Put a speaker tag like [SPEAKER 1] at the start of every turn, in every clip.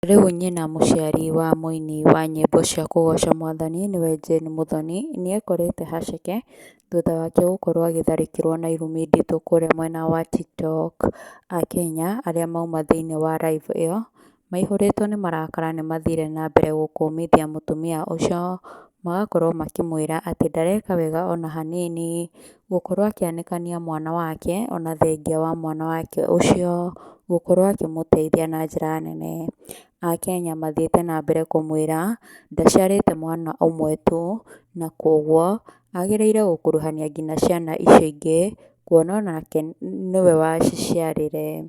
[SPEAKER 1] Rĩu nyina mũciari wa mũini wa nyĩmbo cia kũgoca Mwathani nĩwe Jane Muthoni nĩekorete haceke thutha wake gũkorwo agĩtharĩkĩrwo na irumi nditũ kũrĩa mwena wa Tiktok, Akenya arĩa mauma thĩinĩ wa live ĩyo maihũrĩtwo nĩ marakara nĩmathire na mbere gũkũmithia mũtumia ũcio magakorwo makĩmwĩra atĩ ndareka wega ona hanini gũkorwo akĩanĩkania mwana wake ona thengia wa mwana wake ũcio gũkorwo akĩmũteithia na njĩra nene. Akenya mathiĩte na mbere kũmwĩra ndaciarĩte mwana ũmwe tu na kwoguo agĩrĩire gũkuruhania nginya ciana icio ingĩ kuona onake nĩwe waciciarire.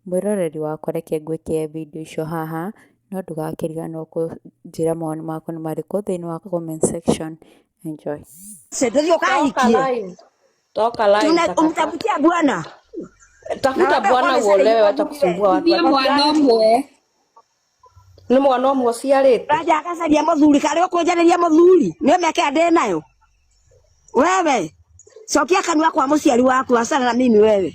[SPEAKER 1] Mwĩroreri wakwa reke ngwĩkĩre video icio haha. no ndũgakĩriganĩrwo kũnjĩra mawoni maku nĩ marĩkũ thĩinĩ wa comment section. Enjoy. Sendezio Toka kahikie. line. Toka line. Tuna
[SPEAKER 2] takataka. umtafutia bwana.
[SPEAKER 3] Tafuta
[SPEAKER 2] Naomba bwana bwana uolewe, sasa wacha hivi kusumbua watu. Niĩ mwana ũmwe Nĩ mwana ũmwe ũciarĩte. Raja akacaria mũthuri
[SPEAKER 3] karĩa ũkũnjarĩria mũthuri nĩ ũmeke ndĩ nayo wewe cokia kanua kwa mũciari waku acana na mimi wewe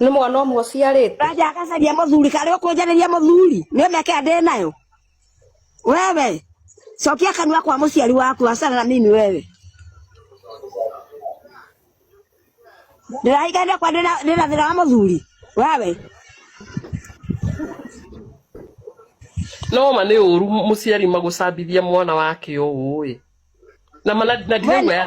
[SPEAKER 2] nä mwana å mwe å ciarä te Raja akacaria mũthuri
[SPEAKER 3] karĩ ũkũnjarĩria mũthuri nĩ meke ndĩ nayo wewe cokia kanua kwa mũciari waku acana na mimi wewe ndĩrahinganire kwa ndĩ na- ndĩ na thĩna wa mũthuri wewe
[SPEAKER 2] no ma nä å ru må ciari magå cambithia mwana wake å ä na ma- na- na ndiraigua ya